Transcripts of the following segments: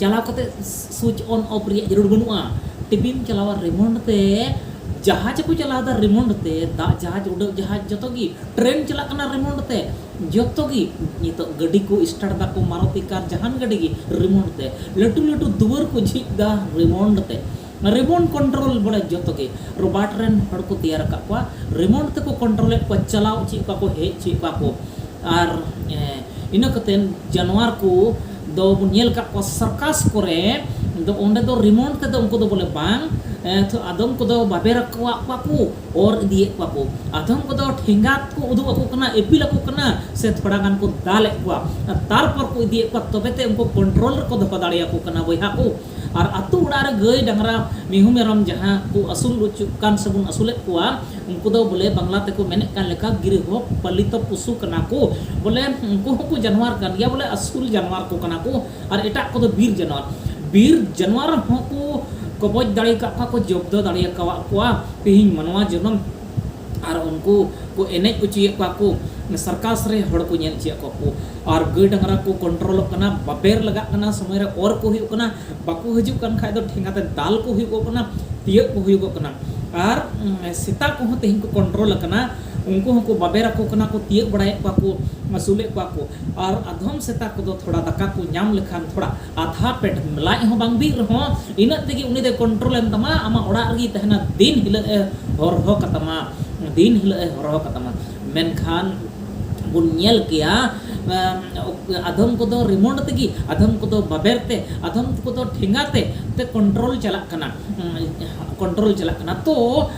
ᱪᱟᱞᱟᱣ ᱠᱟᱛᱮ ᱥᱩᱪ ᱚᱱ ᱚᱯᱷ ᱨᱮᱭᱟᱜ ᱡᱟᱹᱨᱩᱲ ᱵᱟᱹᱱᱩᱜᱼᱟ ᱴᱤᱵᱤᱢ ᱪᱟᱞᱟᱣᱟ ᱨᱤᱢᱳᱴ ᱛᱮ ᱡᱟᱦᱟᱡᱽ ᱠᱚ ᱪᱟᱞᱟᱣᱫᱟ ᱨᱤᱢᱳᱴ ᱛᱮ ᱫᱟᱜ ᱡᱟᱦᱟᱡᱽ ᱩᱰᱟᱹᱜ ᱡᱟᱦᱟᱡᱽ ᱡᱚᱛᱚ ᱜᱮ ᱴᱨᱮᱱ ᱪᱟᱞᱟᱜ ᱠᱟᱱᱟ ᱨᱤᱢᱳᱴ ᱛᱮ ᱡᱚᱛᱚ ᱜᱮ ᱱᱤᱛᱚᱜ ᱜᱟᱹᱰᱤ ᱠᱚ ᱥᱴᱟᱨᱴ ᱫᱟᱠᱚ ᱢᱟᱨᱚᱛᱤ ᱠᱟᱨ ᱡᱟᱦᱟᱱ ᱜᱟᱹᱰᱤ ᱜᱮ ᱨᱤᱢᱳᱴ ᱛᱮ ᱞᱟᱹᱴᱩ ᱞᱟᱹᱴᱩ ᱫᱩᱣᱟᱹᱨ ᱠᱚ ᱡᱷᱤᱡ ᱫᱟ ᱨᱤᱢᱳᱴ ᱛᱮ ᱨᱮᱢᱚᱱᱰ ᱠᱚᱱᱴᱨᱚᱞ ᱵᱚᱞᱮ ᱡᱚᱛᱚ ᱜᱮ ᱨᱚᱵᱟᱨᱴ ᱨᱮᱱ ᱦᱚᱲ ᱠᱚ ᱛᱮᱭᱟᱨ ᱟᱠᱟᱫ ᱠᱚᱣᱟ ᱨᱮᱢᱚᱱᱰ ᱛᱮᱠᱚ ᱠᱚᱱᱴᱨᱚᱞ ᱮᱫ ᱠᱚᱣᱟ ᱪᱟᱞᱟᱣ ᱚᱪᱚᱭᱮᱫ ᱠᱚᱣᱟ ᱠᱚ ᱦᱮᱡ ᱚᱪᱚᱭᱮᱫ ᱠᱚᱣᱟ ᱠᱚ ᱟᱨ ᱤᱱᱟᱹ ᱠᱟᱛᱮ ᱡᱟᱱᱣᱟᱨ ᱠᱚ ᱫᱚ ᱵᱚᱱ ᱧᱮᱞ ᱟᱠᱟᱫ ᱠᱚᱣᱟ ᱥᱟᱨᱠᱟᱥ ᱠᱚᱨᱮ ᱫᱚ ᱚᱸᱰᱮ ᱫᱚ ᱨᱮᱢᱚᱱᱰ ᱛᱮᱫᱚ ᱩᱱᱠᱩ ᱫᱚ ᱵᱚᱞᱮ ᱵᱟᱝ ᱛᱚ ᱟᱫᱚᱢ ᱠᱚᱫᱚ ᱵᱟᱵᱮᱨ ᱟᱠᱚᱣᱟᱜ ᱠᱚᱣᱟ ᱠᱚ ᱚᱨ ᱤᱫᱤᱭᱮᱫ ᱠᱚᱣᱟ ᱠᱚ ᱟᱫᱚᱢ ᱠᱚᱫᱚ ᱴᱷᱮᱸᱜᱟ ᱠᱚ ᱩᱫᱩᱜ ᱟᱠᱚ ᱠᱟᱱᱟ ᱤᱯᱤᱞ ᱟᱠᱚ ᱠᱟᱱᱟ ᱥᱮ ᱛᱷᱚᱲᱟ ᱜᱟᱱ ᱠᱚ ᱫᱟᱞᱮᱫ ᱠᱚᱣᱟ ᱛᱟᱨᱯᱚᱨ ᱠᱚ ᱤᱫᱤᱭᱮᱫ ᱠᱚᱣᱟ ᱛᱚᱵᱮ ᱛᱮ ᱩᱱᱠᱩ ᱠᱚᱱᱴᱨᱚᱞ ᱨᱮᱠᱚ ᱫᱚᱦᱚ ᱫᱟᱲᱮᱭᱟᱠᱚ ᱠᱟᱱᱟ ᱵᱚᱭᱦᱟ ᱠᱚ ᱟᱨ ᱟᱹᱛᱩ ᱚᱲᱟᱜ ᱨᱮ ᱜᱟᱹᱭ ᱰᱟᱝᱨᱟ ᱢᱤᱦᱩ ᱢᱮᱨᱚᱢ ᱡᱟᱦᱟᱸ ᱠᱚ ᱟᱹᱥᱩᱞ ᱚᱪᱚᱜ ᱠᱟᱱ ᱥᱮ ᱵᱚᱱ ᱟᱹᱥᱩᱞᱮᱫ ᱠᱚᱣᱟ ᱩᱱᱠᱩ ᱫᱚ ᱵᱚᱞᱮ ᱵᱟᱝᱞᱟ ᱛᱮᱠᱚ ᱢᱮᱱᱮᱫ ᱠᱟᱱ ᱞᱮᱠᱟ ᱜᱨᱤᱦᱚ ᱯᱟᱞᱤᱛᱚ ᱯᱚᱥᱩ ᱠᱟᱱᱟ ᱠᱚ ᱵᱚᱞᱮ ᱩᱱᱠᱩ ᱦᱚᱸᱠᱚ ᱡᱟᱱᱣᱟᱨ ᱠᱟᱱ ᱜᱮᱭᱟ ᱵᱚᱞᱮ ᱟᱹᱥᱩᱞ ᱡᱟᱱᱣᱟᱨ ᱠᱚ ᱠᱟᱱᱟ ᱠᱚ ᱟᱨ ᱮᱴᱟᱜ ᱠᱚᱫᱚ ᱵᱤᱨ ᱡᱟᱱᱣᱟᱨ ᱵᱤᱨ ᱡᱟᱱᱣᱟᱨ ᱦᱚᱸᱠᱚ ᱠᱚᱵᱚᱡ ᱫᱟᱲᱮ ᱟᱠᱟᱫ ᱠᱚᱣᱟ ᱠᱚ ᱡᱚᱵᱫᱚ ᱫᱟᱲᱮ ᱟᱠᱟᱫ ᱠᱚᱣᱟ ᱛᱮᱦᱮᱧ ᱢᱟᱱᱣᱟ ᱡᱚᱱᱚᱢ ᱟᱨ ᱩᱱᱠᱩ ᱠᱚ ᱮᱱᱮᱡ ᱚᱪᱚᱭᱮᱫ ᱠᱚᱣᱟ ᱠᱚ ᱥᱟᱨᱠᱟᱥ ᱨᱮ ᱦᱚᱲ ᱠᱚ ᱧᱮᱞ ᱚᱪᱚᱭᱮᱫ ᱠᱚᱣᱟ ᱠᱚ ᱟᱨ ᱜᱟᱹᱭ ᱰᱟᱝᱨᱟ ᱠᱚ ᱠᱚᱱᱴᱨᱳᱞᱚᱜ ᱠᱟᱱᱟ ᱵᱟᱵᱮᱨ ᱞᱟᱜᱟᱜ ᱠᱟᱱᱟ ᱥᱚᱢᱚᱭ ᱨᱮ ᱚᱨ ᱠᱚ ᱦᱩᱭᱩᱜ ᱠᱟᱱᱟ ᱵᱟᱠᱚ ᱦᱤᱡᱩᱜ ᱠᱟᱱ ᱠᱷᱟᱡ ᱫᱚ ᱴᱷᱮᱸᱜᱟ ᱛᱮ ᱫᱟᱞ ᱠᱚ ᱦᱩᱭᱩᱜᱚᱜ ᱠᱟᱱᱟ ᱛᱤᱭᱟᱹᱜ ᱠᱚ ᱦᱩᱭᱩᱜᱚᱜ ᱠᱟᱱᱟ ᱟᱨ ᱥᱮᱛᱟ ᱠᱚᱦᱚᱸ ᱛᱮᱦᱮᱧ ᱠᱚ ᱠᱚᱱᱴᱨᱳᱞ ᱟᱠᱟᱱᱟ ᱩᱱᱠᱩ ᱦᱚᱸᱠᱚ ᱵᱟᱵᱮᱨ ᱟᱠᱚ ᱠᱟᱱᱟ ᱠᱚ ᱛᱤᱭᱟᱹᱜ ᱵᱟᱲᱟᱭᱮᱫ ᱠᱚᱣᱟ ᱠᱚ ᱟᱹᱥᱩᱞᱮᱫ ᱠᱚᱣᱟ ᱠᱚ ᱟᱨ ᱟᱫᱷᱚᱢ ᱥᱮᱛᱟ ᱠᱚᱫᱚ ᱛᱷᱚᱲᱟ ᱫᱟᱠᱟ ᱠᱚ ᱧᱟᱢ ᱞᱮᱠᱷᱟᱱ ᱛᱷᱚᱲᱟ ᱟᱫᱷᱟ ᱯᱮᱴ ᱞᱟᱡ ᱦᱚᱸ ᱵᱟᱝ ᱵᱤᱜ ᱨᱮᱦᱚᱸ ᱤᱱᱟᱹᱜ ᱛᱮᱜᱮ ᱩᱱᱤ ᱫᱚᱭ ᱠᱚᱱᱴᱨᱳᱞ ᱮᱱ ᱛᱟᱢᱟ ᱟᱢᱟᱜ ᱚᱲᱟᱜ ᱨᱮᱜᱮᱭ ᱛᱟᱦᱮᱱᱟ ᱫᱤᱱ ᱦᱤᱞᱳᱜ ᱮ ᱦᱚᱨᱦᱚ ᱠᱟᱛᱟᱢᱟ ᱫᱤᱱ ᱦᱤᱞᱳᱜ ᱮ ᱦᱚᱨᱦᱚ ᱠᱟᱛᱟᱢᱟ ᱢᱮᱱᱠᱷᱟᱱ ᱵᱚᱱ ᱧᱮᱞ ᱠᱮᱭᱟ ᱟᱫᱷᱚᱢ ᱠᱚᱫᱚ ᱨᱤᱢᱳᱴ ᱛᱮᱜᱮ ᱟᱫᱷᱚᱢ ᱠᱚᱫᱚ ᱵᱟᱵᱮᱨ ᱛᱮ ᱟᱫᱷᱚᱢ ᱠᱚᱫᱚ ᱴᱷᱮᱸᱜᱟ ᱛᱮ ᱛᱮ ᱠᱚᱱᱴᱨᱳᱞ ᱪᱟᱞᱟᱜ ᱠᱟᱱᱟ ᱠᱚᱱᱴᱨᱳᱞ ᱪᱟᱞᱟᱜ ᱠᱟᱱᱟ ᱛᱚ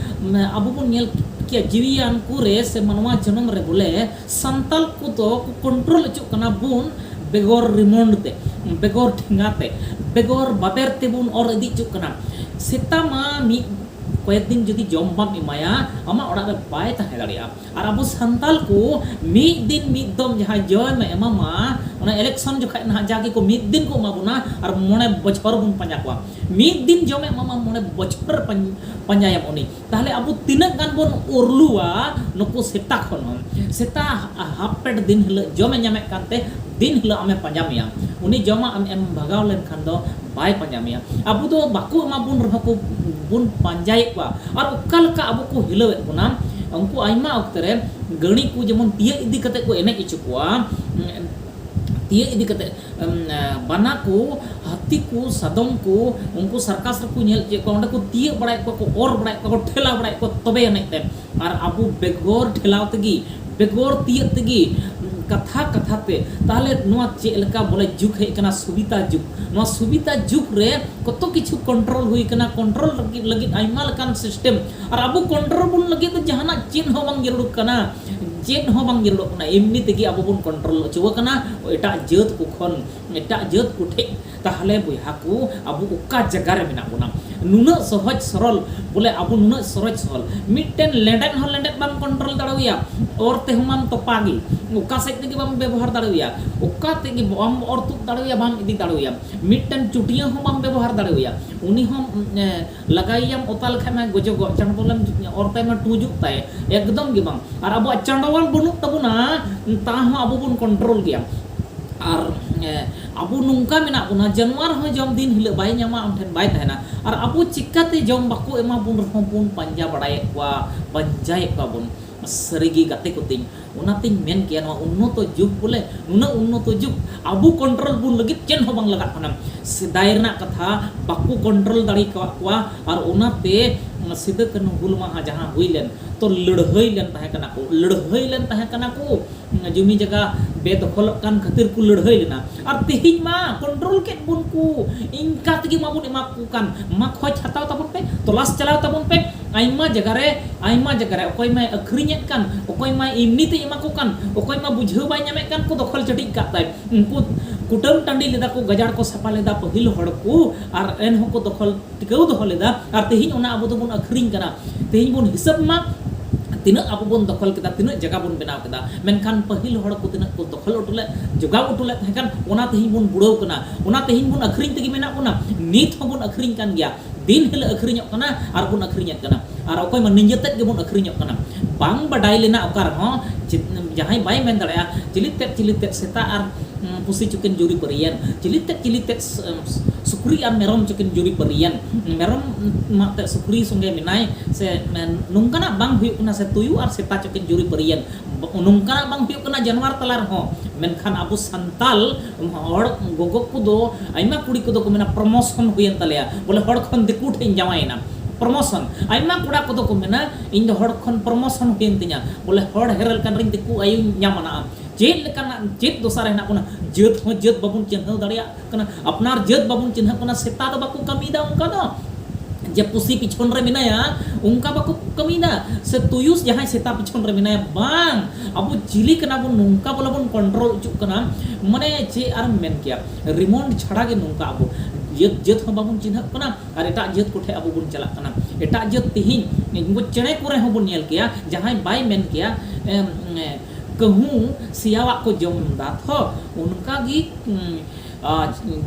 ᱟᱵᱚ ᱵᱚᱱ ᱧᱮᱞ ᱠᱮᱭᱟ ᱡᱤᱣᱤᱭᱟᱱ ᱠᱚᱨᱮ ᱥᱮ ᱢᱟᱱᱣᱟ ᱡᱚᱱᱚᱢ ᱨᱮ ᱵᱚᱞᱮ ᱥᱟᱱᱛᱟᱞ ᱠᱚᱫᱚ ᱠᱚ ᱠᱚᱱᱴᱨᱳᱞ ᱚᱪᱚᱜ ᱠᱟᱱᱟ ᱵᱚᱱ ᱵᱮᱜᱚᱨ ᱨᱤᱢᱳᱱᱰ ᱛᱮ ᱵᱮᱜᱚᱨ ᱴᱷᱮᱸᱜᱟ ᱛᱮ ᱵᱮᱜᱚᱨ ᱵᱟᱵᱮᱨ ᱛᱮᱵᱚᱱ ᱚᱨ ᱤᱫᱤ ᱚᱪᱚᱜ ᱠᱟᱱᱟ ᱥᱮᱛᱟ ᱢᱟ ᱢᱤᱫ ᱠᱚᱭᱮᱠ ᱫᱤᱱ ᱡᱩᱫᱤ ᱡᱚᱢ ᱵᱟᱢ ᱮᱢᱟᱭᱟ ᱟᱢᱟᱜ ᱚᱲᱟᱜ ᱨᱮ ᱵᱟᱭ ᱛᱟᱦᱮᱸ ᱫᱟᱲᱮᱭᱟᱜᱼᱟ ᱟᱨ ᱟᱵᱚ ᱥᱟᱱᱛᱟᱞ ᱠᱚ ᱢᱤᱫ ᱫᱤᱱ ᱢᱤᱫ ᱫᱚᱢ ᱡᱟᱦᱟᱸ ᱡᱚᱢ ᱮᱢᱟᱢᱟ ᱚᱱᱟ ᱤᱞᱮᱠᱥᱚᱱ ᱡᱚᱠᱷᱟᱡ ᱱᱟᱦᱟᱜ ᱡᱟᱜᱮ ᱠᱚ ᱢᱤᱫ ᱫᱤᱱ ᱠᱚ ᱮᱢᱟ ᱵᱚᱱᱟ ᱟᱨ ᱢᱚᱬᱮ ᱵᱚᱪᱷᱚᱨ ᱵᱚᱱ ᱯᱟᱸᱡᱟ ᱠᱚᱣᱟ ᱢᱤᱫ ᱫᱤᱱ ᱡᱚᱢᱮ ᱮᱢᱟᱢᱟ ᱢᱚᱬᱮ ᱵᱚᱪᱷᱚᱨ ᱯᱟᱸᱡᱟᱭᱟᱢ ᱩᱱᱤ ᱛᱟᱦᱚᱞᱮ ᱟᱵᱚ ᱛᱤᱱᱟᱹᱜ ᱜᱟᱱ ᱵᱚᱱ ᱩᱨᱞᱩᱣᱟ ᱱᱩᱠᱩ ᱥᱮᱛᱟ ᱠᱷᱚᱱ ᱦᱚᱸ ᱥᱮᱛᱟ ᱦᱟᱯ ᱯᱮᱴ ᱫᱤᱱ ᱦᱤᱞᱳᱜ ᱡᱚᱢᱮ ᱧᱟᱢᱮᱫ ᱠᱟᱱᱛᱮ ᱫᱤᱱ ᱦᱤᱞᱳᱜ ᱟᱢᱮ ᱯᱟᱸᱡᱟ ᱢᱮᱭᱟ ᱩᱱᱤ ᱡᱚᱢᱟᱜ ᱟᱢ ᱮᱢ ᱵᱷᱟᱜᱟᱣ ᱞᱮᱱᱠᱷᱟᱱ ᱫᱚ ᱵᱟᱭ ᱯᱟᱸᱡᱟ ᱢᱮᱭᱟ ᱟᱵᱚ ᱫᱚ ᱵᱟᱠᱚ ᱮᱢᱟ ᱵᱚᱱ ᱨᱮᱦᱚᱸ ᱠᱚ ᱵᱚᱱ ᱯᱟᱸᱡᱟᱭᱮᱫ ᱠᱚᱣᱟ ᱟᱨ ᱚᱠᱟ ᱞᱮᱠᱟ ᱟᱵᱚ ᱠᱚ ᱦᱤᱞᱟᱹᱣᱮᱫ ᱵᱚᱱᱟ ᱩᱱᱠᱩ ᱟᱭᱢᱟ ᱚᱠᱛᱮ ᱨᱮ ᱜᱟᱹᱬᱤ ᱠᱚ ᱡᱮᱢᱚᱱ ᱛᱤᱭᱟᱹᱜ ᱤᱫᱤ ᱠᱟᱛᱮ ᱠᱚ ᱮᱱᱮᱡ ᱦᱚᱪᱚ ᱠᱚᱣᱟ ᱛᱤᱭᱟᱹᱜ ᱤᱫᱤ ᱠᱟᱛᱮ ᱵᱟᱱᱟ ᱠᱚ ᱦᱟᱹᱛᱤ ᱠᱚ ᱥᱟᱫᱚᱢ ᱠᱚ ᱩᱱᱠᱩ ᱥᱟᱨᱠᱟᱥ ᱨᱮᱠᱚ ᱧᱮᱞ ᱪᱮᱫ ᱠᱚᱣᱟ ᱚᱸᱰᱮ ᱠᱚ ᱛᱤᱭᱟᱹᱜ ᱵᱟᱲᱟᱭᱮᱫ ᱠᱚᱣᱟ ᱠᱚ ᱚᱨ ᱵᱟᱲᱟᱭᱮᱫ ᱠᱚᱣᱟ ᱠᱚ ᱴᱷᱮᱞᱟᱣ ᱵᱟᱲᱟᱭᱮᱫ ᱠᱚᱣᱟ ᱛᱚᱵᱮ ᱟᱹᱱᱤᱡ ᱛᱮ ᱟᱨ ᱟᱵᱚ ᱵᱮᱜᱚᱨ ᱴᱷᱮᱞᱟᱣ ᱛᱮᱜᱮ ᱵᱮᱜᱚᱨ ᱛᱤᱭᱟᱹᱜ ᱛᱮᱜᱮ ᱠᱟᱛᱷᱟ ᱠᱟᱛᱷᱟ ᱛᱮ ᱛᱟᱦᱚᱞᱮ ᱱᱚᱣᱟ ᱪᱮᱫ ᱞᱮᱠᱟ ᱵᱚᱞᱮ ᱡᱩᱜᱽ ᱦᱮᱡ ᱠᱟᱱᱟ ᱥᱩᱵᱤᱛᱟ ᱡᱩᱜᱽ ᱱᱚᱣᱟ ᱥᱩᱵᱤᱛᱟ ᱡᱩᱜᱽ ᱨᱮ ᱠᱚᱛ ᱠᱤᱪᱷᱩ ᱠᱚᱱᱴᱨᱳᱞ ᱦᱩᱭ ᱠᱟᱱᱟ ᱠᱚᱱᱴᱨᱳᱞ ᱞᱟᱹᱜᱤᱫ ᱟᱭᱢᱟ ᱞᱮᱠᱟᱱ ᱥᱤᱥᱴᱮᱢ ᱟᱨ ᱟᱵᱚ ᱠᱚᱱᱴᱨᱳᱞ ᱵᱚᱱ ᱞᱟᱹᱜᱤᱫ ᱫᱚ ᱡᱟᱦᱟᱱᱟᱜ ᱪᱮᱫ ᱦᱚᱸ ᱵᱟᱝ ᱡᱟᱹᱨᱩᱲ ᱠᱟᱱᱟ ᱪᱮᱫ ᱦᱚᱸ ᱵᱟᱝ ᱧᱮᱞᱚᱜ ᱠᱟᱱᱟ ᱮᱢᱱᱤ ᱛᱮᱜᱮ ᱟᱵᱚ ᱵᱚᱱ ᱠᱚᱱᱴᱨᱳᱞ ᱚᱪᱚ ᱟᱠᱟᱱᱟ ᱮᱴᱟᱜ ᱡᱟᱹᱛ ᱠᱚ ᱠᱷᱚᱱ ᱮᱴᱟᱜ ᱡᱟᱹᱛ ᱠᱚ ᱴᱷᱮᱡ ᱛᱟᱦᱚᱞᱮ ᱵᱚᱭᱦᱟ ᱠᱚ ᱟᱵᱚ ᱚᱠᱟ ᱡᱟᱭᱜᱟ ᱨᱮ ᱢᱮᱱᱟᱜ ᱵᱚᱱᱟ ᱱᱩᱱᱟᱹᱜ ᱥᱚᱦᱚᱡ ᱥᱚᱨᱚᱞ ᱵᱚᱞᱮ ᱟᱵᱚ ᱱᱩᱱᱟᱹᱜ ᱥᱚᱨᱚᱡ ᱥᱚᱨᱚᱞ ᱢᱤᱫᱴᱮᱱ ᱞᱮᱸᱰᱮᱫ ᱦᱚᱸ ᱞᱮᱸᱰᱮᱫ ᱵᱟᱢ ᱠᱚᱱᱴᱨᱳᱞ ᱫᱟᱲᱮᱣᱟᱭᱟ ᱚᱨ ᱛᱮᱦᱚᱸ ᱵᱟᱢ ᱛᱚᱯᱟ ᱜᱮ ᱚᱠᱟ ᱥᱮᱫ ᱛᱮᱜᱮ ᱵᱟᱢ ᱵᱮᱵᱚᱦᱟᱨ ᱫᱟᱲᱮᱣᱟᱭᱟ ᱚᱠᱟ ᱛᱮᱜᱮ ᱵᱟᱢ ᱚᱨ ᱛᱩᱫ ᱫᱟᱲᱮᱣᱟᱭᱟ ᱵᱟᱢ ᱤᱫᱤ ᱫᱟᱲᱮᱣᱟᱭᱟ ᱢᱤᱫᱴᱮᱱ ᱪᱩᱴᱭᱟᱹ ᱦᱚᱸ ᱵᱟᱢ ᱵᱮᱵᱚᱦᱟᱨ ᱫᱟᱲᱮᱣᱟᱭᱟ ᱩᱱᱤ ᱦᱚᱸ ᱞᱟᱜᱟᱭᱮᱭᱟᱢ ᱚᱛᱟ ᱞᱮᱠᱷᱟᱡ ᱢᱟᱭ ᱜᱚᱡᱚᱜᱚᱜ ᱪᱟᱸᱰᱵᱚᱞᱮᱢ ᱚᱨᱛᱟᱭ ᱢᱟ ᱴᱩᱡᱩᱜ ᱛᱟᱭ ᱮᱠᱫᱚᱢ ᱜᱮ ᱵᱟᱝ ᱟᱨ ᱟᱵᱚᱣᱟᱜ ᱪᱟᱸᱰᱵᱚᱞ ᱵᱟᱹᱱᱩᱜ ᱛᱟᱵᱚᱱᱟ ᱛᱟᱦᱚᱸ ᱟᱵᱚ ᱵᱚᱱ ᱠᱚᱱᱴᱨᱳᱞ ᱜᱮᱭᱟ ᱟᱨ ᱟᱵᱚ ᱱᱚᱝᱠᱟ ᱢᱮᱱᱟᱜ ᱵᱚᱱᱟ ᱡᱟᱱᱣᱟᱨ ᱦᱚᱸ ᱡᱚᱢ ᱫᱤᱱ ᱦᱤᱞᱳᱜ ᱵᱟᱭ ᱧᱟᱢᱟ ᱟᱢ ᱴᱷᱮᱱ ᱵᱟᱭ ᱛᱟᱦᱮᱱᱟ ᱟᱨ ᱟᱵᱚ ᱪᱤᱠᱟᱹᱛᱮ ᱡᱚᱢ ᱵᱟᱠᱚ ᱮᱢᱟ ᱵᱚᱱ ᱨᱮᱦᱚᱸ ᱵᱚᱱ ᱯᱟᱸᱡᱟ ᱵᱟᱲᱟᱭᱮᱫ ᱠᱚᱣᱟ ᱯᱟᱸᱡᱟᱭᱮᱫ ᱠᱚᱣᱟ ᱵᱚᱱ ᱥᱟᱹᱨᱤᱜᱮ ᱜᱟᱛᱮ ᱠᱚ ᱛᱤᱧ ᱚᱱᱟᱛᱮᱧ ᱢᱮᱱ ᱠᱮᱭᱟ ᱱᱚᱣᱟ ᱩᱱᱱᱚᱛᱚ ᱡᱩᱜᱽ ᱵᱚᱞᱮ ᱱᱩᱱᱟᱹᱜ ᱩᱱᱱᱚᱛᱚ ᱡᱩᱜᱽ ᱟᱵᱚ ᱠᱚᱱᱴᱨᱳᱞ ᱵᱚᱱ ᱞᱟᱹᱜᱤᱫ ᱪᱮᱫ ᱦᱚᱸ ᱵᱟᱝ ᱞᱟᱜᱟᱜ ᱠᱟᱱᱟ ᱥᱮᱫᱟᱭ ᱨᱮᱱᱟᱜ ᱠᱟᱛᱷᱟ ᱵᱟᱠᱚ ᱠᱚᱱᱴᱨᱳᱞ ᱫᱟᱲᱮ ᱠᱟᱜ ᱠᱚᱣᱟ ᱟᱨ ᱚᱱᱟᱛᱮ ᱥᱤᱫᱟᱹ ᱠᱟᱹᱱᱦᱩ ᱦᱩᱞ ᱢᱟᱦᱟ ᱡᱟᱦᱟᱸ ᱦᱩᱭ ᱞᱮᱱ ᱛᱚ ᱞᱟᱹᱲᱦᱟᱹᱭ ᱞᱮᱱ ᱛᱟᱦᱮᱸ ᱠᱟᱱᱟ ᱠᱚ ᱞᱟᱹᱲᱦᱟᱹᱭ ᱞᱮᱱ ᱛᱟᱦᱮᱸ ᱠᱟᱱᱟ ᱠᱚ ᱡᱩᱢᱤ ᱡᱟᱭᱜᱟ ᱵᱮᱫᱚᱠᱷᱚᱞᱚᱜ ᱠᱟᱱ ᱠᱷᱟᱹᱛᱤᱨ ᱠᱚ ᱞᱟᱹᱲᱦᱟᱹᱭ ᱞᱮᱱᱟ ᱟᱨ ᱛᱮᱦᱮᱧ ᱢᱟ ᱠᱚᱱᱴᱨᱳᱞ ᱠᱮᱫ ᱵᱚᱱ ᱠᱚ ᱤᱱᱠᱟ ᱛᱮᱜᱮ ᱢᱟᱵᱚᱱ ᱮᱢᱟ ᱠᱚ ᱠᱟᱱ ᱢᱟ ᱠᱷᱚᱡᱽ ᱦᱟᱛᱟᱣ ᱛᱟᱵᱚᱱ ᱯᱮ ᱛᱚᱞᱟᱥ ᱪᱟᱞᱟᱣ ᱛᱟᱵᱚᱱ ᱯᱮ ᱟᱭᱢᱟ ᱡᱟᱭᱜᱟ ᱨᱮ ᱟᱭᱢᱟ ᱡᱟᱭᱜᱟ ᱨᱮ ᱚᱠᱚᱭ ᱢᱟᱭ ᱟᱹᱠᱷᱨᱤᱧᱮᱫ ᱠᱟᱱ ᱚᱠᱚᱭ ᱢᱟᱭ ᱮᱢᱱᱤ ᱛᱮ ᱮᱢᱟ ᱠᱚ ᱠᱟᱱ ᱚᱠᱚᱭ ᱢᱟ ᱵᱩᱡᱷᱟᱹᱣ ᱵᱟᱭ ᱧᱟᱢᱮᱫ ᱠᱟᱱ ᱠᱚ ᱫᱚᱠᱷᱚᱞ ᱪᱟᱹᱴᱤᱡ ᱠᱟᱜ ᱛᱟᱭ ᱩᱱᱠᱩ ᱠᱩᱴᱟᱹᱢ ᱴᱟᱺᱰᱤ ᱞᱮᱫᱟ ᱠᱚ ᱜᱟᱡᱟᱲ ᱠᱚ ᱥᱟᱯᱷᱟ ᱞᱮᱫᱟ ᱯᱟᱹᱦᱤᱞ ᱦᱚᱲ ᱠᱚ ᱟᱨ ᱮᱱᱦᱚᱸ ᱠᱚ ᱫᱚᱠᱷᱚᱞ ᱴᱤᱠᱟᱹᱣ ᱫᱚᱦᱚ ᱞᱮᱫᱟ ᱟᱨ ᱛᱮᱦᱮᱧ ᱚᱱᱟ ᱟᱵᱚ ᱫᱚᱵᱚᱱ ᱟᱹᱠᱷᱨᱤᱧ ᱠᱟᱱᱟ ᱛᱮᱦᱮᱧ ᱵᱚᱱ ᱦᱤᱥᱟᱹᱵ ᱢᱟ ᱛᱤᱱᱟᱹᱜ ᱟᱵᱚ ᱵᱚᱱ ᱫᱚᱠᱷᱚᱞ ᱠᱮᱫᱟ ᱛᱤᱱᱟᱹᱜ ᱡᱟᱭᱜᱟ ᱵᱚᱱ ᱵᱮᱱᱟᱣ ᱠᱮᱫᱟ ᱢᱮᱱᱠᱷᱟᱱ ᱯᱟᱹᱦᱤᱞ ᱦᱚᱲ ᱠᱚ ᱛᱤᱱᱟᱹᱜ ᱠᱚ ᱫᱚᱠᱷᱚᱞ ᱦᱚᱴᱚ ᱞᱮᱫ ᱡᱚᱜᱟᱣ ᱦᱚᱴᱚ ᱞᱮᱫ ᱛᱟᱦᱮᱸ ᱠᱟᱱ ᱚᱱᱟ ᱛᱮᱦᱮᱧ ᱵᱚᱱ ᱵᱩᱲᱟᱹᱣ ᱠᱟᱱᱟ ᱚᱱᱟ ᱛᱮᱦᱮᱧ ᱵᱚᱱ ᱟᱹᱠᱷᱨᱤᱧ ᱛᱮᱜᱮ ᱢᱮᱱᱟᱜ ᱵᱚᱱᱟ ᱱᱤᱛ ᱦᱚᱸᱵᱚᱱ ᱟᱹᱠᱷᱨᱤᱧ ᱠᱟᱱ ᱜᱮᱭᱟ ᱫᱤᱱ ᱦᱤᱞᱳᱜ ᱟᱹᱠᱷᱨᱤᱧᱚᱜ ᱠᱟᱱᱟ ᱟᱨ ᱵᱚᱱ ᱟᱹᱠᱷᱨᱤᱧᱮᱫ ᱠᱟᱱᱟ ᱟᱨ ᱚᱠᱚᱭ ᱢᱟ ᱱᱤᱡᱮ ᱛᱮᱫ ᱜᱮᱵᱚᱱ ᱟᱹᱠᱷᱨᱤᱧᱚᱜ ᱠᱟᱱᱟ ᱵᱟᱝ ᱵᱟᱰᱟᱭ ᱞᱮᱱᱟ ᱚᱠᱟ ᱨᱮᱦᱚᱸ ᱡᱟᱦᱟᱸᱭ ᱵᱟᱭ ᱢᱮᱱ ᱫᱟᱲᱮᱭᱟᱜᱼᱟ ᱪᱤᱞᱤ ᱛᱮᱫ ᱪᱤᱞᱤ ᱛᱮᱫ ᱥᱮᱛᱟ ᱟᱨ ᱯᱩᱥᱤ ᱪᱩᱠᱤᱱ ᱡᱩᱨᱤ ᱯᱟᱹᱨᱤᱭᱮᱱ ᱪᱤᱞᱤ ᱛᱮᱫ ᱪᱤᱞᱤ ᱛᱮᱫ ᱥᱩᱠᱨᱤ ᱟᱨ ᱢᱮᱨᱚᱢ ᱪᱤᱠᱤᱱ ᱡᱩᱨᱤ ᱯᱟᱹᱨᱤᱭᱮᱱ ᱢᱮᱨᱚᱢ ᱢᱟ ᱛᱮ ᱥᱩᱠᱨᱤ ᱥᱚᱸᱜᱮ ᱢᱮᱱᱟᱭ ᱥᱮ ᱱᱚᱝᱠᱟᱱᱟᱜ ᱵᱟᱝ ᱦᱩᱭᱩᱜ ᱠᱟᱱᱟ ᱥᱮ ᱛᱩᱭᱩ ᱟᱨ ᱥᱮᱛᱟ ᱪᱤᱠᱤᱱ ᱡᱩᱨᱤ ᱯᱟᱹᱨᱤᱭᱮᱱ ᱱᱚᱝᱠᱟᱱᱟᱜ ᱵᱟᱝ ᱦᱩᱭᱩᱜ ᱠᱟᱱᱟ ᱡᱟᱱᱣᱟᱨ ᱛᱟᱞᱟ ᱨᱮᱦᱚᱸ ᱢᱮᱱᱠᱷᱟᱱ ᱟᱵᱚ ᱥᱟᱱᱛᱟᱞ ᱦᱚᱲ ᱜᱚᱜᱚ ᱠᱚᱫᱚ ᱟᱭᱢᱟ ᱠᱩᱲᱤ ᱠᱚᱫᱚ ᱠᱚ ᱢᱮᱱᱟ ᱯᱨᱚᱢᱳᱥᱚᱱ ᱦᱩᱭᱮᱱ ᱛᱟᱞᱮᱭᱟ ᱵᱚᱞᱮ ᱦᱚᱲ ᱠᱷᱚᱱ ᱫᱤᱠᱩ ᱴᱷᱮᱱ ᱡᱟᱶᱟᱭᱮᱱᱟ ᱯᱨᱚᱢᱳᱥᱚᱱ ᱟᱭᱢᱟ ᱠᱚᱲᱟ ᱠᱚᱫᱚ ᱠᱚ ᱢᱮᱱᱟ ᱤᱧ ᱫᱚ ᱦᱚᱲ ᱠᱷᱚᱱ ᱯᱨᱚᱢᱳᱥᱚᱱ ᱦᱩᱭᱮᱱ ᱛᱤᱧᱟ ᱵᱚᱞᱮ ᱦᱚᱲ ᱦᱮᱨᱮᱞ ᱠᱟᱱ ᱨᱮᱧ ᱫᱤᱠᱩ ᱟᱭᱳᱧ ᱧᱟᱢ ᱟᱱᱟ ᱪᱮᱫ ᱞᱮᱠᱟᱱᱟᱜ ᱪᱮᱫ ᱫᱚᱥᱟ ᱨᱮ ᱦᱮᱱᱟᱜ ᱵᱚᱱᱟ ᱡᱟᱹᱛ ᱦᱚᱸ ᱡᱟᱹᱛ ᱵᱟᱵᱚᱱ ᱪᱤᱱᱦᱟᱹᱣ ᱫᱟᱲᱮᱭᱟᱜ ᱠᱟᱱᱟ ᱟᱯᱱᱟᱨ ᱡᱟᱹᱛ ᱵᱟᱵᱚᱱ ᱪᱤᱱᱦᱟᱹᱜ ᱠᱟᱱᱟ ᱥᱮᱛᱟ ᱫᱚ ᱵᱟᱠᱚ ᱠᱟᱹᱢᱤᱭᱮᱫᱟ ᱚᱱᱠᱟ ᱫᱚ ᱡᱮ ᱯᱩᱥᱤ ᱯᱤᱪᱷᱚᱱ ᱨᱮ ᱢᱮᱱᱟᱭᱟ ᱚᱱᱠᱟ ᱵᱟᱠᱚ ᱠᱟᱹᱢᱤᱭᱮᱫᱟ ᱥᱮ ᱛᱩᱭᱩᱥ ᱡᱟᱦᱟᱸᱭ ᱥᱮᱛᱟ ᱯᱤᱪᱷᱚᱱ ᱨᱮ ᱢᱮᱱᱟᱭᱟ ᱵᱟᱝ ᱟᱵᱚ ᱪᱤᱞᱤ ᱠᱟᱱᱟ ᱵᱚᱱ ᱱᱚᱝᱠᱟ ᱵᱚᱞᱮ ᱵᱚᱱ ᱠᱚᱱᱴᱨᱳᱞ ᱚᱪᱚᱜ ᱠᱟᱱᱟ ᱢᱟᱱᱮ ᱪᱮᱫ ᱟᱨᱮᱢ ᱢᱮᱱ ᱠᱮᱭᱟ ᱨᱤᱢᱳᱱᱰ ᱪᱷᱟᱲᱟ ᱜᱮ ᱱᱚᱝᱠᱟ ᱟᱵᱚ ᱡᱟᱹᱛ ᱡᱟᱹᱛ ᱦᱚᱸ ᱵᱟᱵᱚᱱ ᱪᱤᱱᱦᱟᱹᱜ ᱠᱟᱱᱟ ᱟᱨ ᱮᱴᱟᱜ ᱡᱟᱹᱛ ᱠᱚᱴᱷᱮᱱ ᱟᱵᱚ ᱵᱚᱱ ᱪᱟᱞᱟᱜ ᱠᱟᱱᱟ ᱮᱴᱟᱜ ᱡᱟᱹᱛ ᱛᱮᱦᱮᱧ ᱩᱱᱠᱩ ᱪᱮᱬᱮ ᱠᱚᱨᱮ ᱦᱚᱸ ᱵᱚᱱ ᱧᱮᱞ ᱠᱮᱭᱟ ᱡᱟᱦᱟᱸᱭ ᱵᱟᱭ ᱢᱮᱱ ᱠᱮᱭᱟ ᱠᱟᱹᱦᱩ ᱥᱮᱭᱟᱣᱟᱜ ᱠᱚ ᱡᱚᱢ ᱫᱟ ᱛᱷᱚ ᱚᱱᱠᱟ ᱜᱮ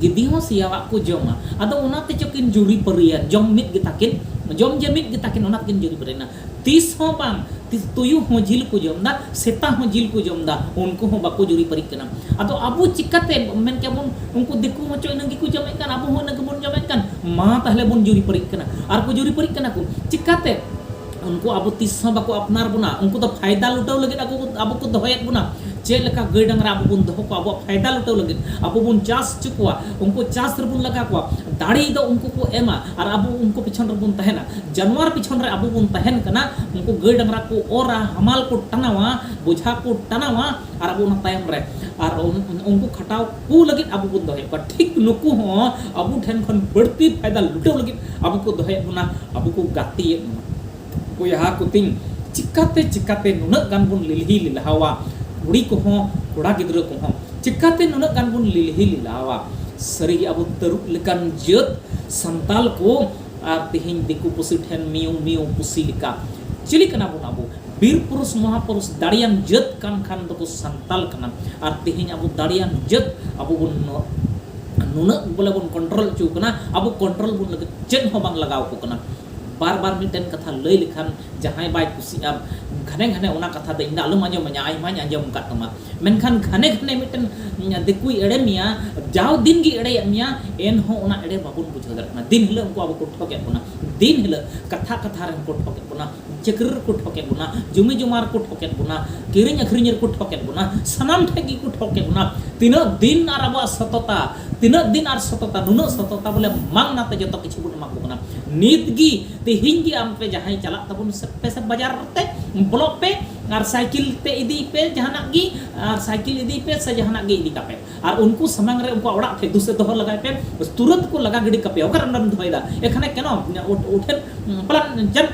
ᱜᱤᱫᱤ ᱦᱚᱸ ᱥᱮᱭᱟᱣᱟᱜ ᱠᱚ ᱡᱚᱢᱟ ᱟᱫᱚ ᱚᱱᱟ ᱛᱮᱪᱚ ᱠᱤᱱ ᱡᱩᱨᱤ ᱯᱟᱹᱨᱤᱭᱮᱱ ᱡᱚᱢ ᱢᱤᱫ ᱜᱮ ᱛᱟᱹᱠᱤᱱ ᱡᱚᱢ ᱡᱮ ᱢᱤᱫ ᱜᱮ ᱛᱟᱹᱠᱤᱱ ᱚᱱᱟ ᱛᱮᱠᱤᱱ ᱡᱩᱨᱤ ᱯᱟᱹᱨᱤᱭᱮᱱᱟ ᱛᱤᱥ ᱦᱚᱸ ᱵᱟᱝ ᱛᱤᱥ ᱛᱩᱭᱩ ᱦᱚᱸ ᱡᱤᱞ ᱠᱚ ᱡᱚᱢ ᱫᱟ ᱥᱮᱛᱟ ᱦᱚᱸ ᱡᱤᱞ ᱠᱚ ᱡᱚᱢ ᱫᱟ ᱩᱱᱠᱩ ᱦᱚᱸ ᱵᱟᱠᱚ ᱡᱩᱨᱤ ᱯᱟᱹᱨᱤᱜ ᱠᱟᱱᱟ ᱟᱫᱚ ᱟᱵᱚ ᱪᱤᱠᱟᱹᱛᱮ ᱢᱮᱱ ᱠᱮᱜᱼᱟ ᱵᱚᱱ ᱩᱱᱠᱩ ᱫᱤᱠᱩ ᱦᱚᱸ ᱪᱚ ᱤᱱᱟᱹ ᱜᱮᱠᱚ ᱡᱚᱢᱮᱫ ᱠᱟᱱ ᱟᱵᱚ ᱦᱚᱸ ᱤᱱᱟᱹ ᱜᱮᱵᱚᱱ ᱡᱚᱢᱮᱫ ᱠᱟᱱ ᱢᱟ ᱛᱟᱦᱞᱮ ᱵᱚᱱ ᱡᱩᱨᱤ ᱯᱟᱹᱨᱤᱜ ᱠᱟᱱᱟ ᱟᱨ ᱠᱚ ᱡᱩᱨᱤ ᱯᱟᱹᱨᱤᱜ ᱠᱟᱱᱟ ᱠᱚ ᱪᱤᱠᱟᱹᱛᱮ ᱩᱱᱠᱩ ᱟᱵᱚ ᱛᱤᱥ ᱦᱚᱸ ᱵᱟᱠᱚ ᱟᱯᱱᱟᱨ ᱵᱚᱱᱟ ᱩᱱᱠᱩ ᱫᱚ ᱯᱷᱟᱭᱫᱟ ᱞᱩᱴᱟᱹᱣ ᱞᱟᱹᱜᱤᱫ ᱟᱠᱚ ᱟᱵᱚ ᱠᱚ ᱫᱚᱦᱚᱭᱮᱫ ᱵᱚᱱᱟ ᱪᱮᱫ ᱞᱮᱠᱟ ᱜᱟᱹᱭ ᱰᱟᱝᱨᱟ ᱟᱵᱚ ᱵᱚᱱ ᱫᱚᱦᱚ ᱠᱚᱣᱟ ᱟᱵᱚᱣᱟᱜ ᱯᱷᱟᱭᱫᱟ ᱞᱩᱴᱟᱹᱣ ᱞᱟᱹᱜᱤᱫ ᱟᱵᱚ ᱵᱚᱱ ᱪᱟᱥ ᱦᱚᱪᱚ ᱠᱚᱣᱟ ᱩᱱᱠᱩ ᱪᱟᱥ ᱨᱮᱵᱚᱱ ᱞᱟᱜᱟ ᱠᱚᱣᱟ ᱫᱟᱲᱮ ᱫᱚ ᱩᱱᱠᱩ ᱠᱚ ᱮᱢᱟ ᱟᱨ ᱟᱵᱚ ᱩᱱᱠᱩ ᱯᱤᱪᱷᱚᱱ ᱨᱮᱵᱚᱱ ᱛᱟᱦᱮᱱᱟ ᱡᱟᱱᱣᱟᱨ ᱯᱤᱪᱷᱚᱱ ᱨᱮ ᱟᱵᱚ ᱵᱚᱱ ᱛᱟᱦᱮᱱ ᱠᱟᱱᱟ ᱩᱱᱠᱩ ᱜᱟᱹᱭ ᱰᱟᱝᱨᱟ ᱠᱚ ᱚᱨᱟ ᱦᱟᱢᱟᱞ ᱠᱚ ᱴᱟᱱᱟᱣᱟ ᱵᱚᱡᱷᱟ ᱠᱚ ᱴᱟᱱᱟᱣᱟ ᱟᱨ ᱟᱵᱚ ᱚᱱᱟ ᱛᱟᱭᱚᱢ ᱨᱮ ᱟᱨ ᱩᱱᱠᱩ ᱠᱷᱟᱴᱟᱣ ᱠᱚ ᱞᱟᱹᱜᱤᱫ ᱟᱵᱚ ᱵᱚᱱ ᱫᱚᱦᱚᱭᱮᱫ ᱠᱚᱣᱟ ᱴᱷᱤᱠ ᱱᱩᱠᱩ ᱦᱚᱸ ᱟᱵᱚ ᱴᱷᱮᱱ ᱠᱷᱚᱱ ᱵᱟᱹᱲᱛᱤ ᱯᱷᱟᱭᱫᱟ ᱞᱩᱴᱟᱹᱣ ᱞᱟᱹᱜᱤᱫ ᱟᱵᱚ ᱠᱚ ᱫᱚᱦᱚᱭᱮᱫ ᱵᱚᱱᱟ ᱟᱵᱚ ᱠᱚ ᱜᱟᱛᱮᱭᱮᱫ ᱵᱚᱱᱟ ᱵᱚᱭᱦᱟ ᱠᱚ ᱛᱤᱧ ᱪᱤᱠᱟᱛᱮ ᱪᱤᱠᱟᱛᱮ ᱱᱩᱱᱟᱹᱜ ᱜᱟᱱ ᱵᱚᱱ ᱞᱤᱞᱦᱤ ᱞᱤᱞᱦᱟᱣᱟ ᱠᱩᱲᱤ ᱠᱚᱦᱚᱸ ᱠᱚᱲᱟ ᱜᱤᱫᱽᱨᱟᱹ ᱠᱚᱦᱚᱸ ᱪᱤᱠᱟᱛᱮ ᱱᱩᱱᱟᱹᱜ ᱜᱟᱱ ᱵᱚᱱ ᱞᱤᱞᱦᱤ ᱞᱤᱞᱦᱟᱣᱟ ᱥᱟᱹᱨᱤᱜᱮ ᱟᱵᱚ ᱛᱟᱹᱨᱩᱵ ᱞᱮᱠᱟᱱ ᱡᱟᱹᱛ ᱥᱟᱱᱛᱟᱞ ᱠᱚ ᱟᱨ ᱛᱤᱦᱤᱧ ᱫᱤᱠᱩ ᱯᱩᱥᱤ ᱴᱷᱮᱱ ᱢᱤᱭᱩ ᱢᱤᱭᱩ ᱯᱩᱥᱤ ᱞᱮᱠᱟ᱾ ᱪᱤᱞᱤ ᱠᱟᱱᱟ ᱵᱚᱱ ᱟᱵᱚ? ᱵᱤᱨ ᱯᱩᱨᱩᱥ ᱢᱚᱦᱟ ᱯᱩᱨᱩᱥ ᱫᱟᱲᱮᱭᱟᱱ ᱡᱟᱹᱛ ᱠᱟᱱ ᱠᱷᱟᱱ ᱫᱚ ᱵᱚ ᱥᱟᱱᱛᱟᱞ ᱠᱟᱱᱟ᱾ ᱟᱨ ᱛᱤᱦᱤᱧ ᱟᱵᱚ ᱫᱟᱲᱮᱭᱟᱱ ᱡᱟᱹᱛ ᱟᱵᱚ ᱵᱚᱱ ᱱᱩᱱᱟᱹᱜ ᱵᱚᱞᱮ ᱵᱚᱱ ᱠᱚᱱᱴᱨᱚᱞ ᱚᱪᱚ ᱟᱠᱟᱱᱟ ᱟᱵᱚ ᱠᱚᱱᱴᱨᱚᱞ ᱵᱚᱱ ᱞᱟᱹᱜᱤᱫ ᱪᱮᱫ ᱦᱚᱸ ᱵᱟᱝ ᱞᱟᱜᱟᱣ ᱠᱚ ᱠᱟᱱᱟ᱾ ᱵᱟᱨ ᱵᱟᱨ ᱢᱤᱫᱴᱮᱱ ᱠᱟᱛᱷᱟ ᱞᱟᱹᱭ ᱞᱮᱠᱷᱟᱱ ᱡᱟᱦᱟᱸᱭ ᱵᱟᱭ ᱠᱩᱥᱤᱜᱼᱟ ᱜᱷᱟᱱᱮ ᱜᱷᱟᱱᱮ ᱚᱱᱟ ᱠᱟᱛᱷᱟ ᱫᱚ ᱤᱧ ᱫᱚ ᱟᱞᱚᱢ ᱟᱸᱡᱚᱢᱟᱹᱧᱟ ᱟᱭᱢᱟᱧ ᱟᱸᱡᱚᱢ ᱟᱠᱟᱫ ᱛᱟᱢᱟ ᱢᱮᱱᱠᱷᱟᱱ ᱜᱷᱟᱱᱮ ᱜᱷᱟᱱᱮ ᱢᱤᱫᱴᱮᱱ ᱫᱤᱠᱩᱭ ᱮᱲᱮ ᱢᱮᱭᱟ ᱡᱟᱣ ᱫᱤᱱ ᱜᱮ ᱮᱲᱮᱭᱮᱫ ᱢᱮᱭᱟ ᱮᱱᱦᱚᱸ ᱚᱱᱟ ᱮᱲᱮ ᱵᱟᱵᱚᱱ ᱵᱩᱡᱷᱟᱹᱣ ᱫᱟᱲᱮᱭᱟᱜ ᱠᱟᱱᱟ ᱫᱤᱱ ᱦᱤᱞᱳᱜ ᱩᱱᱠᱩ ᱟᱵᱚ ᱠᱚ ᱴᱷᱚᱠᱮᱫ ᱵᱚᱱᱟ ᱫᱤᱱ ᱦᱤᱞᱳᱜ ᱠᱟᱛᱷᱟ ᱠᱟᱛᱷᱟ ᱨᱮ ᱠᱚ ᱴᱷᱚᱠᱮᱫ ᱵᱚᱱᱟ ᱪᱟᱹᱠᱨᱤ ᱨᱮᱠᱚ ᱴᱷᱚᱠᱮᱫ ᱵᱚᱱᱟ ᱡᱩᱢᱤ ᱡᱚᱢᱟ ᱨᱮᱠᱚ ᱴᱷᱚᱠᱮᱫ ᱵᱚᱱᱟ ᱠᱤᱨᱤᱧ ᱟᱹᱠᱷᱨᱤᱧ ᱨᱮᱠᱚ ᱴᱷᱚᱠᱮᱫ ᱵᱚᱱᱟ ᱥᱟᱱᱟᱢ ᱴᱷᱮᱱ ᱜᱮᱠᱚ ᱴᱷᱚᱠᱮᱫ ᱵᱚᱱᱟ ᱛᱤᱱᱟᱹᱜ ᱫᱤᱱ ᱟᱨ ᱟᱵᱚᱣᱟᱜ ᱥᱚᱛᱚᱛᱟ ᱛᱤᱱᱟᱹᱜ ᱫᱤᱱ ᱟᱨ ᱥᱚᱛᱚᱛᱟ ᱱᱩᱱᱟᱹᱜ ᱥᱚᱛᱚᱛᱟ ᱵᱚᱞᱮ ᱢᱟᱝᱱᱟᱛᱮ ᱡᱚᱛᱚ ᱠᱤᱪᱷᱩ ᱵᱚᱱ ᱮᱢᱟ ᱠᱚ ᱠᱟᱱᱟ ᱱᱤᱛ ᱜᱮ ᱛᱮᱦᱮᱧ ᱜᱮ ᱟᱢ ᱯᱮ ᱡᱟᱦᱟᱸᱭ ᱪᱟᱞᱟᱜ ᱛᱟᱵᱚᱱ ᱥᱮ ᱯᱮ ᱥᱮ ᱵᱟᱡᱟᱨ ᱛᱮ ᱵᱞᱚᱠ ᱯᱮ ᱟᱨ ᱥᱟᱭᱠᱮᱞ ᱛᱮ ᱤᱫᱤ ᱯᱮ ᱡᱟᱦᱟᱱᱟᱜ ᱜᱮ ᱟᱨ ᱥᱟᱭᱠᱮᱞ ᱤᱫᱤ ᱯᱮ ᱥᱮ ᱡᱟᱦᱟᱱᱟᱜ ᱜᱮ ᱤᱫᱤ ᱠᱟᱯᱮ ᱟᱨ ᱩᱱᱠᱩ ᱥᱟᱢᱟᱝ ᱨᱮ ᱩᱱᱠᱩ ᱚᱲᱟᱜ ᱴᱷᱮᱡ ᱫᱩᱥᱮ ᱫᱚᱦᱚ ᱞᱟᱜᱟᱭ ᱯᱮ ᱛᱩᱨᱟᱹᱛ ᱠᱚ ᱞᱟᱜᱟ ᱜᱤᱰᱤ ᱠᱟᱯᱮ ᱚᱠᱟᱨᱮ ᱚᱸᱰᱮᱢ ᱫᱚᱦᱚᱭᱮᱫᱟ ᱮᱠᱷᱟᱱᱮ ᱠᱮᱱᱚ ᱩᱴᱷᱮᱱ ᱯᱟᱞᱟᱱ ᱡᱟᱱ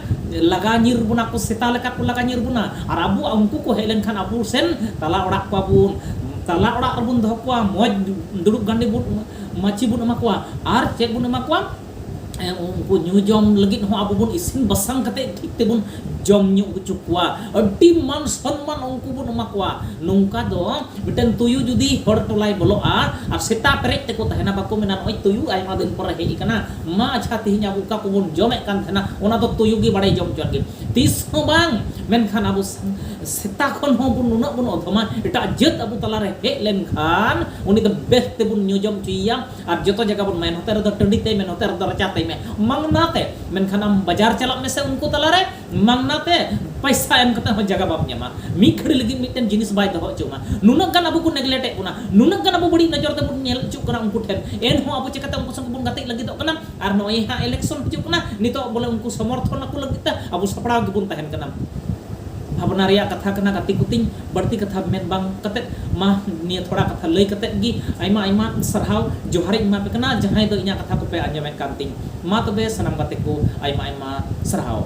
ᱞᱟᱜᱟ ᱧᱤᱨ ᱵᱚᱱᱟ ᱠᱚ ᱥᱮᱛᱟ ᱞᱮᱠᱟ ᱠᱚ ᱞᱟᱜᱟ ᱧᱤᱨ ᱵᱚᱱᱟ ᱟᱨ ᱟᱵᱚ ᱩᱱᱠᱩ ᱠᱚ ᱦᱮᱡ ᱞᱮᱱᱠᱷᱟᱱ ᱟᱵᱚ ᱥᱮᱱ ᱛᱟᱞᱟ ᱚᱲᱟᱜ ᱠᱚᱣᱟ ᱵᱚᱱ ᱛᱟᱞᱟ ᱚᱲᱟᱜ ᱨᱮᱵᱚᱱ ᱫᱚᱦᱚ ᱠᱚᱣᱟ ᱢᱚᱡᱽ ᱫᱩᱲᱩᱵ ᱜᱟᱸᱰᱮ ᱵᱚᱱ ᱢᱟᱹᱪᱤ ᱵᱚᱱ ᱮᱢᱟ ᱠᱚᱣᱟ ᱟᱨ ᱪᱮᱫ ᱵᱚᱱ ᱮᱢᱟ ᱠᱚᱣᱟ ᱩᱱᱠᱩ ᱧᱩ ᱡᱚᱢ ᱞᱟᱹᱜᱤᱫ ᱦᱚᱸ ᱟᱵᱚ ᱵᱚᱱ ᱤᱥᱤᱱ ᱵᱟᱥᱟᱝ ᱠᱟᱛᱮ ᱴᱷᱤᱠ ᱛᱮᱵᱚᱱ ᱡᱚᱢ ᱧᱩ ᱦᱚᱪᱚ ᱠᱚᱣᱟ ᱟᱹᱰᱤ ᱢᱟᱱ ᱥᱚᱱᱢᱟᱱ ᱩᱱᱠᱩ ᱵᱚᱱ ᱮᱢᱟ ᱠᱚᱣᱟ ᱱᱚᱝᱠᱟ ᱫᱚ ᱢᱤᱫᱴᱟᱝ ᱛᱩᱭᱩ ᱡᱩᱫᱤ ᱦᱚᱲ ᱴᱚᱞᱟᱭ ᱵᱚᱞᱚᱜᱼᱟ ᱟᱨ ᱥᱮᱛᱟ ᱯᱮᱨᱮᱡ ᱛᱮᱠᱚ ᱛᱟᱦᱮᱱᱟ ᱵᱟᱠᱚ ᱢᱮᱱᱟ ᱱᱚᱜᱼᱚᱭ ᱛᱩᱭᱩ ᱟᱭᱢᱟ ᱫᱤᱱ ᱯᱚᱨᱮ ᱦᱮᱡ ᱟᱠᱟᱱᱟ ᱢᱟ ᱟᱪᱪᱷᱟ ᱛᱮᱦᱮᱧ ᱟᱵᱚ ᱚᱠᱟ ᱠᱚᱵᱚᱱ ᱡᱚᱢᱮᱫ ᱠᱟᱱ ᱛᱟᱦᱮᱱᱟ ᱚᱱᱟ ᱫᱚ ᱛᱩᱭᱩ ᱜᱮ ᱵᱟᱲᱟᱭ ᱡᱚᱢ ᱦᱚᱪᱚᱣᱟᱱ ᱜᱮ ᱛᱤᱥ ᱦᱚᱸ ᱵᱟᱝ ᱢᱮᱱᱠᱷᱟᱱ ᱟᱵᱚ ᱥᱮᱛᱟ ᱠᱷᱚᱱ ᱦᱚᱸ ᱵᱚᱱ ᱱᱩᱱᱟᱹᱜ ᱵᱚᱱ ᱚᱫᱷᱚᱢᱟ ᱮᱴᱟᱜ ᱡᱟᱹᱛ ᱟᱵᱚ ᱛᱟᱞᱟᱨᱮ ᱦᱮᱡ ᱞᱮᱱᱠᱷᱟᱱ ᱩᱱᱤ ᱫᱚ ᱵᱮᱥ ᱛᱮᱵᱚᱱ ᱧᱩ ᱡᱚᱢ ᱦᱚᱪᱚᱭᱮᱭᱟ ᱟᱨ ᱡᱚᱛᱚ ᱡᱟᱭᱜᱟ ᱵᱚᱱ ᱢᱮᱱ ᱦᱚᱛᱮ ᱨᱮᱫᱚ ᱴᱟᱺᱰᱤ ᱛᱮ ᱢᱮᱱ ᱦᱚᱛᱮ ᱨᱮᱫᱚ ᱨᱟᱪᱟ ᱛᱮ ᱢᱮᱱ ᱢᱟᱝᱱᱟ ᱛᱮ ᱢᱮᱱᱠᱷᱟᱱ ᱟᱢ ᱵᱟᱡᱟᱨ ᱪᱟᱞᱟᱜ ᱢᱮᱥᱮ ᱩᱱᱠᱩ ᱛᱟᱞᱟ ᱨᱮ ᱢᱟᱝᱱᱟ ᱛᱮ ᱯᱚᱭᱥᱟ ᱮᱢ ᱠᱟᱛᱮ ᱦᱚᱸ ᱡᱟᱭᱜᱟ ᱵᱟᱢ ᱧᱟᱢᱟ ᱢᱤᱫ ᱜᱷᱟᱹᱲᱤ ᱞᱟᱹᱜᱤᱫ ᱢᱤᱫᱴᱮᱱ ᱡᱤᱱᱤᱥ ᱵᱟᱭ ᱫᱚᱦᱚ ᱦᱚᱪᱚ ᱟᱢᱟ ᱱᱩᱱᱟᱹᱜ ᱜᱟᱱ ᱟᱵᱚ ᱠᱚ ᱱᱮᱜᱽᱞᱮᱴ ᱮᱫ ᱵᱚᱱᱟ ᱱᱩᱱᱟᱹᱜ ᱜᱟᱱ ᱟᱵᱚ ᱵᱟᱹᱲᱤᱡ ᱱᱚᱡᱚᱨ ᱛᱮᱵᱚᱱ ᱧᱮᱞ ᱦᱚᱪᱚᱜ ᱠᱟᱱᱟ ᱩᱱᱠᱩ ᱴᱷᱮᱱ ᱮᱱᱦᱚᱸ ᱟᱵᱚ ᱪᱤᱠᱟᱹᱛᱮ ᱩᱱᱠᱩ ᱥᱟᱶ ᱵᱚᱱ ᱜᱟᱛᱮᱜ ᱞᱟᱹᱜᱤᱫᱚᱜ ᱠᱟᱱᱟ ᱟᱨ ᱱᱚᱜᱼᱚᱭ ᱦᱟᱸᱜ ᱮᱞᱮᱠᱥᱚᱱ ᱦᱤᱡᱩᱜ ᱠᱟᱱᱟ ᱱᱤᱛᱚᱜ ᱵᱚᱞᱮ ᱩᱱᱠᱩ ᱥᱚᱢᱚᱨᱛᱷᱚᱱ ᱟᱠᱚ ᱞᱟᱹᱜᱤᱫ ᱛᱮ ᱟᱵᱚ ᱥᱟᱯᱲᱟᱣ ᱜᱮᱵᱚᱱ ᱛᱟᱦᱮᱱ ᱠᱟᱱᱟ ᱵᱷᱟᱵᱽᱱᱟ ᱨᱮᱭᱟᱜ ᱠᱟᱛᱷᱟ ᱠᱟᱱᱟ ᱜᱟᱛᱮ ᱠᱚᱛᱤᱧ ᱵᱟᱹᱲᱛᱤ ᱠᱟᱛᱷᱟ ᱢᱮᱱ ᱵᱟᱝ ᱠᱟᱛᱮ ᱢᱟ ᱱᱤᱭᱟᱹ ᱛᱷᱚᱲᱟ ᱠᱟᱛᱷᱟ ᱞᱟᱹᱭ ᱠᱟᱛᱮ ᱜᱮ ᱟᱭᱢᱟ ᱟᱭᱢᱟ ᱥᱟᱨᱦᱟᱣ ᱡᱚᱦᱟᱨᱤᱧ ᱮᱢᱟ ᱯᱮ ᱠᱟᱱᱟ ᱡᱟᱦᱟᱸᱭ ᱫᱚ ᱤᱧᱟᱹᱜ ᱠᱟᱛᱷᱟ ᱠᱚᱯᱮ ᱟᱸᱡᱚᱢᱮᱫ ᱠᱟᱱ ᱛᱤᱧ ᱢᱟ ᱛᱚᱵᱮ ᱥᱟᱱᱟᱢ ᱜᱟᱛᱮ ᱠᱚ ᱟᱭᱢᱟ ᱟᱭᱢᱟ ᱥᱟᱨᱦᱟᱣ